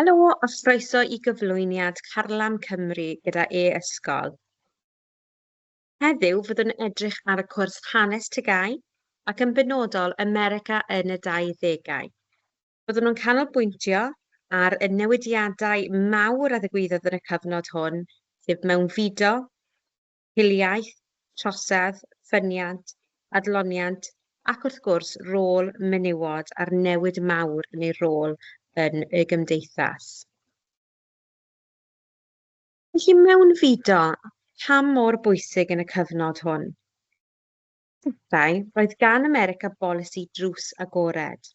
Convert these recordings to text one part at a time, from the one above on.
Helo a chroeso i gyflwyniad Carlam Cymru gyda e-Ysgol. Heddiw fyddwn edrych ar y cwrs Hanes TGAU ac yn benodol America yn y 20au. Byddwn yn canolbwyntio ar y newidiadau mawr a ddigwyddodd yn y cyfnod hwn, sef mewnfudo, hiliaeth, trosedd, ffyniant, adloniant ac wrth gwrs rôl menywod a'r newid mawr yn eu rôl yn y gymdeithas. Felly mewnfudo, pam mor bwysig yn y cyfnod hwn? Yntau, roedd gan America bolisi drws agored.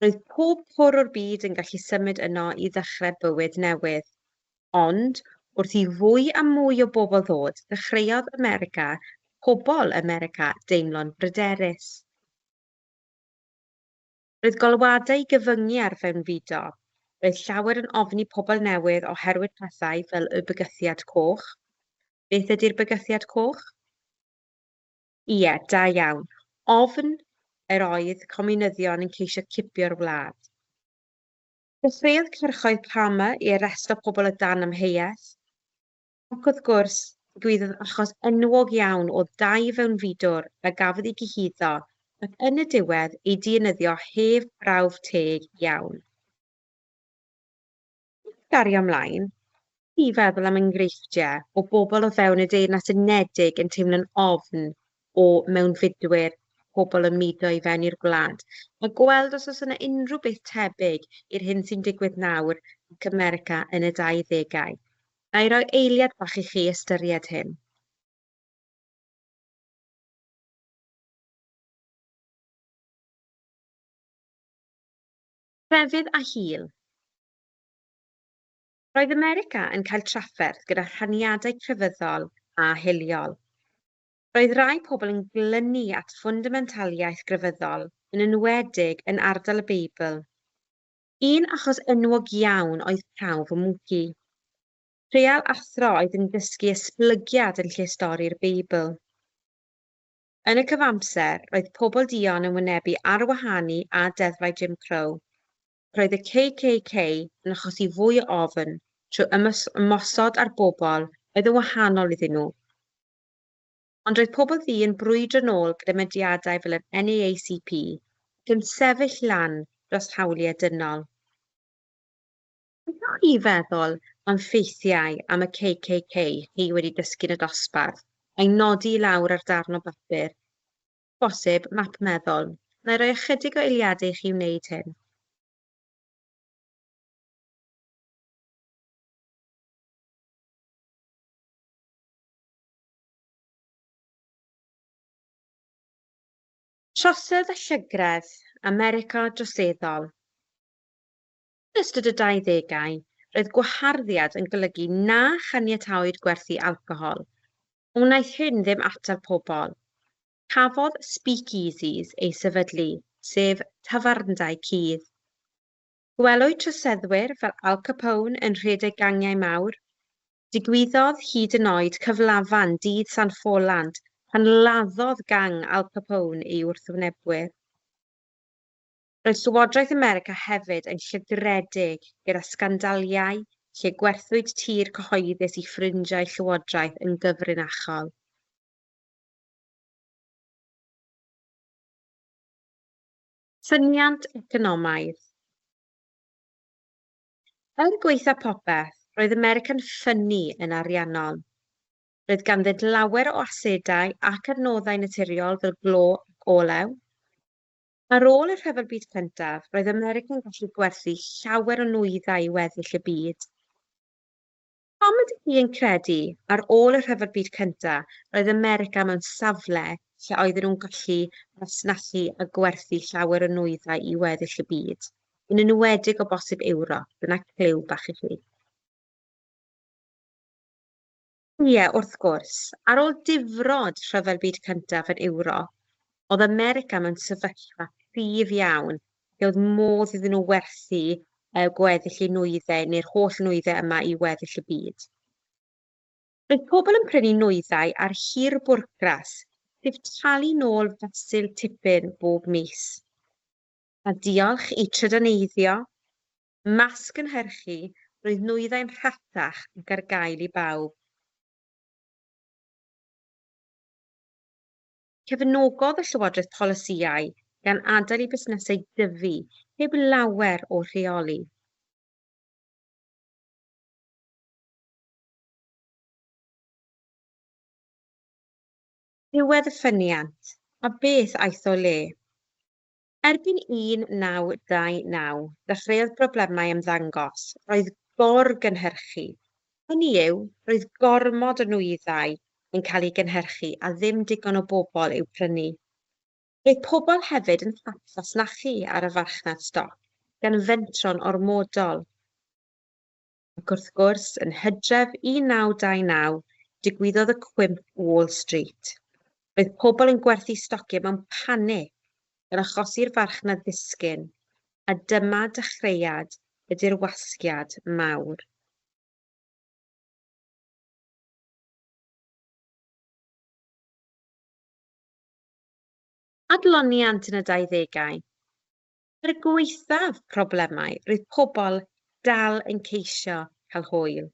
Roedd pob cwr o'r byd yn gallu symud yno i ddechrau bywyd newydd. Ond, wrth i fwy a mwy o bobl ddod, dechreuodd America, pobl America, deimlo'n bryderus. Roedd golwadau gyfyngu ar fewnfudo. Roedd llawer yn ofni pobl newydd oherwydd pethau fel y Bygythiad Coch. Beth ydy'r Bygythiad Coch? Ie, da iawn. Ofn yr oedd comiwnyddion yn ceisio cipio'r wlad. Dechreuodd cyrchoedd Palmer i arresto pobl o dan amheuaeth, ac wrth gwrs, digwyddodd achos enwog iawn o dai fewnfudwr a gafodd ei gyhuddo ac yn y diwedd ei dienyddio heb brawf teg iawn. Wrth gario ymlaen, wrth i feddwl am enghreifftiau o bobl o fewn y Deyrnas Unedig yn teimlo'n ofn o mewnfudwyr pobl yn mudo i fewn i'r gwlad, a gweld os oes yna unrhyw beth tebyg i'r hyn sy'n digwydd nawr ac ym Merica yn y 20au. Ga i roi eiliad bach i chi ystyried hyn? Crefydd a hil. Roedd America yn cael trafferth gyda rhaniadau crefyddol a hiliol. Roedd rai pobl yn glynu at ffundamentaliaeth grefyddol, yn enwedig yn ardal y Beibl. Un achos enwog iawn oedd prawf y mwci. Trial athro oedd yn dysgu esblygiad yn lle stori'r Beibl. Yn y cyfamser, roedd pobl duon yn wynebu arwahanu a deddfau Jim Crow. Roedd y KKK yn achosi fwy o ofn trwy ymosod ar bobl oedd yn wahanol iddyn nhw. Ond roedd pobl ddu yn brwydro'n ôl gyda mudiadau fel yr NAACP ac yn sefyll lan dros hawliau dynol. Beth o'ch chi feddwl am ffeithiau am y KKK chi wedi dysgu'n y dosbarth, a'i nodi i lawr ar darn o bapur, bosib, map meddwl? Wna i roi ychydig o eiliadau i chi wneud hyn. Trosedd a llygredd, America droseddol. Yn ystod y dau ddegau, roedd gwaharddiad yn golygu na chaniataoed gwerthu alcohol. Wnaeth hyn ddim atal pobl. Cafodd speakeasies eu sefydlu, sef tafarndai cudd. Gwelwyd troseddwyr fel Al Capone yn rhedeg gangiau mawr. Digwyddodd hyd yn oed cyflafan dydd San Ffolant pan laddodd gang Al Capone ei wrthwynebwyr. Roedd Llywodraeth America hefyd yn llygredig gyda sgandaliau lle gwerthwyd tir cyhoeddus i ffrindiau llywodraeth yn gyfrinachol. Ffyniant economaidd Er gwaetha popeth, roedd America'n ffynnu yn ariannol. Roedd ganddynt lawer o asedau ac adnoddau naturiol fel glo ac olew. Ar ôl y Rhyfel Byd Cyntaf, roedd America'n gallu gwerthu llawer o nwyddau i weddill y byd. Pam ydych chi yn credu, ar ôl y Rhyfel Byd Cyntaf, roedd America mewn safle lle oedden nhw'n gallu masnachu a gwerthu llawer o nwyddau i weddill y byd, yn enwedig o bosib Ewrop? Dyna cliw bach i chi. Ie, wrth gwrs, ar ôl difrod Rhyfel Byd Cyntaf yn Ewrop, oedd America mewn sefyllfa cryf iawn lle oedd modd iddyn nhw werthu eu gweddill eu nwyddau neu'r holl nwyddau yma i weddill y byd. Roedd pobl yn prynu nwyddau ar hir bwrcras, sef talu nôl fesul tipyn bob mis. A diolch i trydaneiddio, Ymysg cynhyrchu, roedd nwyddau'n rhatach ac ar gael i bawb. Cefnogodd y Llywodraeth polisïau gan adael i busnesau dyfu heb lawer o rheoli. Diwedd y ffyniant, a beth aeth o le? Erbyn 1929, dechreuodd broblemau ymddangos, roedd gor-gynhyrchu, hynny yw, roedd gormod o nwyddau yn cael eu gynhyrchu a ddim digon o bobl i'w prynu. Roedd pobl hefyd yn hapfasnachu ar y farchnad stoc, gan fentro'n ormodol. Ac wrth gwrs, yn Hydref 1929, digwyddodd y cwymp Wall Street. Roedd pobl yn gwerthu stociau mewn panig, gan achosi'r farchnad ddisgyn, a dyma dechreuad y dirwasgiad mawr. Adloniant yn y 20au. Er gwaethaf problemau, roedd pobl dal yn ceisio cael hwyl.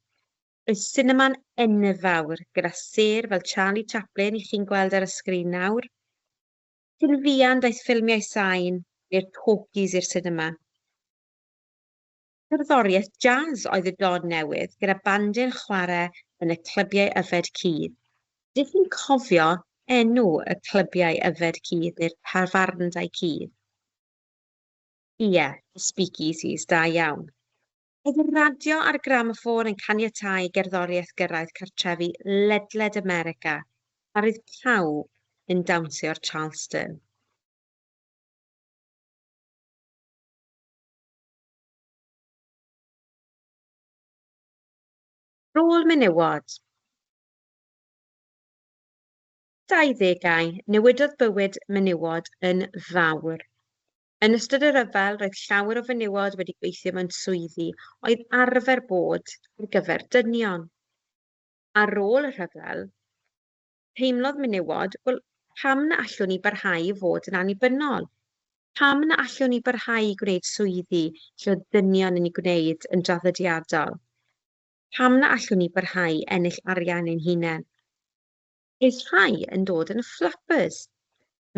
Roedd sinema'n enfawr, gyda sêr fel Charlie Chaplin i chi'n gweld ar y sgrin nawr. Cyn fuan daeth ffilmiau sain neu'r talkies i'r sinema. Cerddoriaeth jazz oedd y dod newydd gyda bandiau'n chwarae yn y clybiau yfed cudd. Ydych chi'n cofio enw y clybiau yfed cudd neu'r tafarndai cudd? Ie, y speakeasies, da iawn. Oedd y radio a'r gramoffôn yn caniatáu i gerddoriaeth gyrraedd cartrefi ledled America a roedd pawb yn dawnsio'r Charleston. Rôl menywod. 20au, newidodd bywyd menywod yn fawr. Yn ystod y rhyfel, roedd llawer o fenywod wedi gweithio mewn swyddi oedd arfer bod ar gyfer dynion. Ar ôl y rhyfel, Teimlodd menywod, Wel, pam na allwn ni barhau i fod yn annibynnol? Pam na allwn ni barhau i gwneud swyddi lle oedd dynion yn ei gwneud yn draddodiadol? Pam na allwn ni barhau i ennill arian ein hunain? Roedd rhai yn dod yn flappers.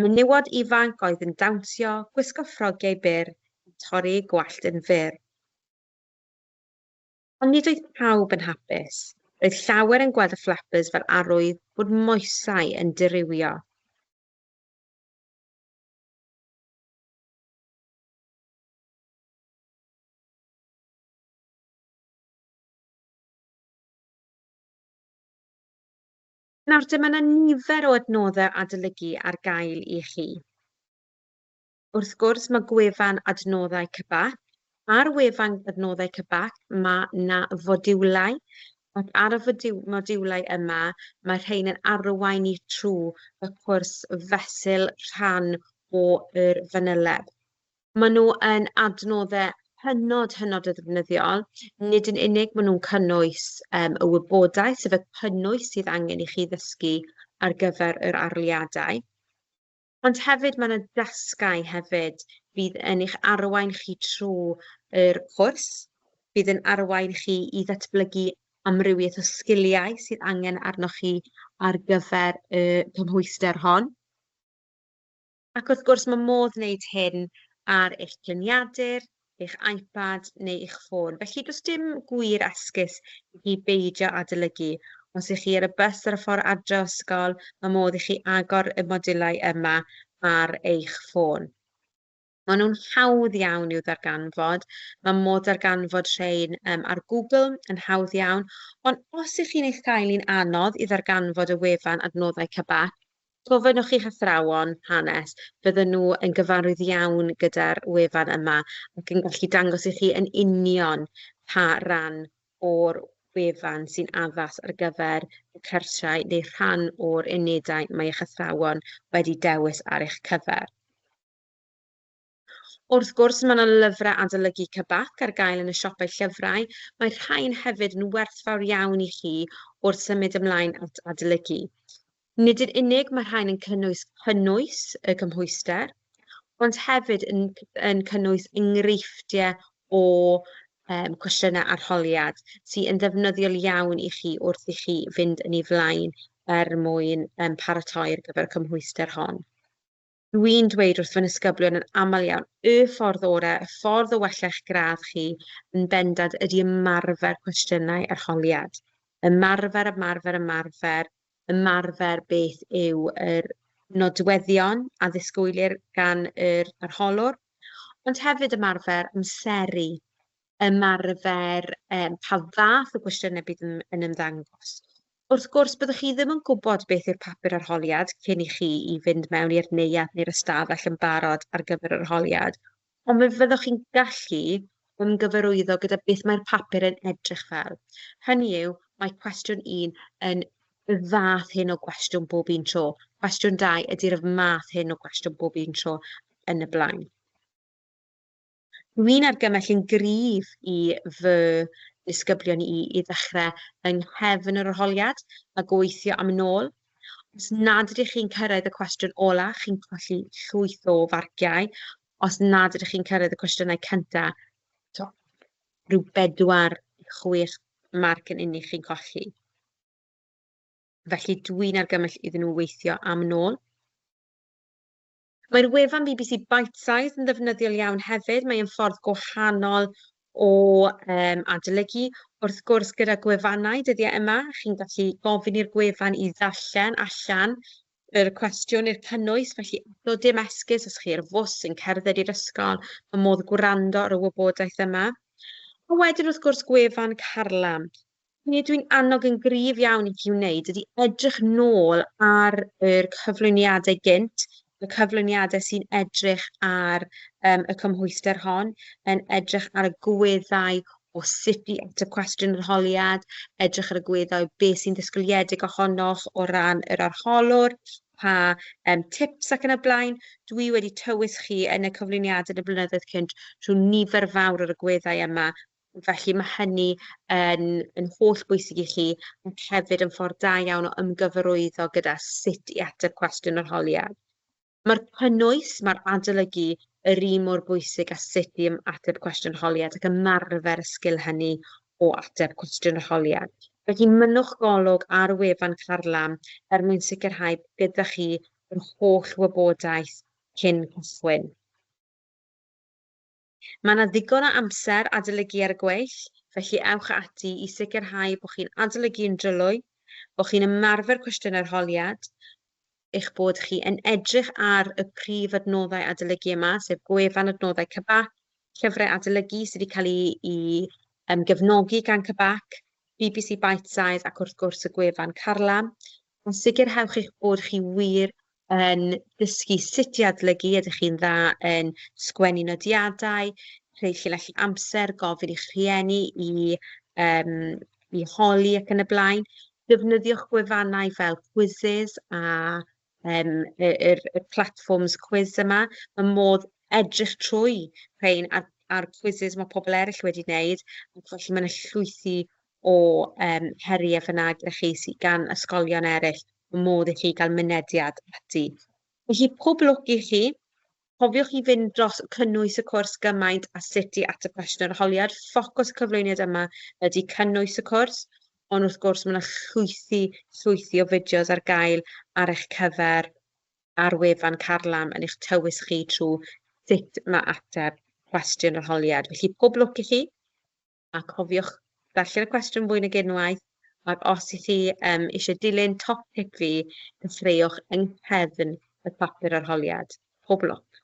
Menywod ifanc oedd yn dawnsio, gwisgo ffrogiau byr, a torri eu gwallt yn fyr. Ond nid oedd pawb yn hapus. Roedd llawer yn gweld y Flappers fel arwydd bod moesau yn dirywio. Nawr, dyma 'na nifer o adnoddau adolygu ar gael i chi. Wrth gwrs, mae gwefan adnoddau CBAP. Ar wefan adnoddau CBAP mae na fodiwlau ac ar y modiwlau yma mae rhain yn arwain i trw y cwrs fesul rhan o'r fanyleb. Mae nhw yn adnoddau hynod, hynod o ddefnyddiol. Nid yn unig mae nhw'n cynnwys um, y wybodaeth, sef y cynnwys sydd angen i chi ddysgu ar gyfer yr arliadau, Ond hefyd mae 'na dasgau hefyd fydd yn eich arwain chi trw' yr cwrs, bydd yn arwain chi i ddatblygu amrywieth o sgiliau sydd angen arnoch chi ar gyfer y cymhwyster hon. Ac wrth gwrs mae modd wneud hyn ar eich lluniadur, eich iPad neu eich ffôn, felly does dim gwir esgus i chi beidio adolygu. Os ych chi ar y bws ar y ffordd adre o ysgol, mae modd i chi agor y modiwlau yma ar eich ffôn. Maen nhw'n hawdd iawn i'w ddarganfod, mae modd darganfod rhain um, ar Google yn hawdd iawn, ond os ych chi'n ei chael hi'n anodd i ddarganfod y wefan adnoddau Cabak, Gofynnwch i'ch athrawon hanes, fydden nhw yn gyfarwydd iawn gyda'r wefan yma ac yn gallu dangos i chi yn union pa ran o'r wefan sy'n addas ar gyfer y cyrsiau neu rhan o'r unedau mae eich athrawon wedi dewis ar eich cyfer. Wrth gwrs, mae yna lyfrau adolygu Cybak ar gael yn y siopau llyfrau, mae rhain hefyd yn werthfawr iawn i chi wrth symud ymlaen at adolygu. Nid yn unig mae rhain yn cynnwys cynnwys y cymhwyster, ond hefyd yn, yn cynnwys enghreifftiau o um, cwestiynau arholiad sy'n yn ddefnyddiol iawn i chi wrth i chi fynd yn ei flaen er mwyn um, paratoi ar gyfer y cymhwyster hon. Dw i'n dweud wrth fy nisgyblion yn aml iawn, y ffordd orau, y ffordd o wella eich gradd chi yn bendant ydy ymarfer cwestiynau arholiad. Ymarfer, ymarfer, ymarfer, ymarfer beth yw yr nodweddion a ddisgwylir gan yr arholwr, ond hefyd ymarfer amseru ymarfer um, pa fath o gwestiynau bydd yn, yn ymddangos. Wrth gwrs, byddwch chi ddim yn gwybod beth yw'r papur arholiad cyn i chi i fynd mewn i'r neuadd neu'r ystafell yn barod ar gyfer yr arholiad, ond fe fyddwch chi'n gallu ymgyfarwyddo gyda beth mae'r papur yn edrych fel. Hynny yw, mae cwestiwn 1 yn y fath hyn o gwestiwn bob un tro. Cwestiwn 2 ydy'r math hyn o gwestiwn bob un tro yn y blaen. Dwi'n argymell yn gryf i fy disgyblion i i ddechrau yng nghefn yr arholiad a gweithio am yn ôl. Os nad ydych chi'n cyrraedd y cwestiwn ola, chi'n colli llwyth o farciau. Os nad ydych chi'n cyrraedd y cwestiynau cynta, to, rhyw bedwar i chwech marc yn unig chi'n colli. Felly dwi'n argymell iddyn nhw weithio am yn ôl. Mae'r wefan bbc Bitesize yn ddefnyddiol iawn hefyd, mae'n ffordd gwahanol o um, adolygu. Wrth gwrs, gyda gwefannau dyddiau yma, chi'n gallu gofyn i'r gwefan i ddarllen allan yr cwestiwn i'r cynnwys, felly eto dim esgus os chi ar fws yn cerdded i'r ysgol, mae modd gwrando ar y wybodaeth yma. A wedyn wrth gwrs gwefan Carlam, Be dwi'n annog yn gryf iawn i chi wneud ydy edrych nôl ar yr cyflwyniadau gynt, y cyflwyniadau sy'n edrych ar um, y cymhwyster hon, yn edrych ar y gweddau o sut i ateb cwestiwn yr holiad, edrych ar y gweddau be sy'n ddisgwyliedig ohonoch o ran yr arholwr, pa um, tips ac yn y blaen. Dwi wedi tywys chi yn y cyflwyniadau yn y blynyddoedd cynt trwy nifer fawr o'r gweddau yma Felly mae hynny yn, yn holl bwysig i chi ac hefyd yn ffordd da iawn o ymgyfarwyddo gyda sut i ateb cwestiwn yr holiad. Mae'r cynnwys, mae'r adolygu yr un mor bwysig a sut i ateb cwestiwn yr holiad ac ymarfer y sgil hynny o ateb cwestiwn yr holiad. Felly mynnwch golwg ar wefan Carlam er mwyn sicrhau bod gyda chi yr holl wybodaeth cyn cychwyn. Mae yna ddigon o amser adolygu ar y gweill, felly ewch ati i sicrhau bod chi'n adolygu'n drylwy, bod chi'n ymarfer cwestiynau'r holiad, eich bod chi yn edrych ar y prif adnoddau adolygu yma, sef gwefan adnoddau CBAC, llyfrau adolygu sydd wedi cael eu gefnogi gan CBAC, bbc Bitesize ac wrth gwrs y gwefan Carlam, a sicrhewch eich bod chi wir yn dysgu sut i adolygu, ydych chi'n dda yn sgwennu nodiadau, rhoi llinell amser, gofyn i'ch rhieni i, um, i holi ac yn y blaen. Defnyddiwch gwefannau fel Quizzes a um, y, y, y platforms quiz yma. Mae modd edrych trwy rhain a'r, ar quizzes mae pobl eraill wedi wneud, ac felly mae'n llwythi o yym heriau fy nagrau chi sydd gan ysgolion eraill, y modd i chi gael mynediad ati. Felly pob lwc i chi. Cofiwch i fynd dros cynnwys y cwrs gymaint a sut i ateb cwestiwn yr holiad. Ffocws y cyflwyniad yma ydy cynnwys y cwrs, ond wrth gwrs mae yna llwythi, llwythi o fideos ar gael ar eich cyfer ar wefan Carlam yn eich tywys chi trwy sut mae ateb cwestiwn yr holiad. Felly pob lwc i chi. a cofiwch ddarllen y cwestiwn fwy nag unwaith, ac os ych chi um, eisiau dilyn top tip fi, dechreuwch yng nghefn y papur arholiad. Pob lwc!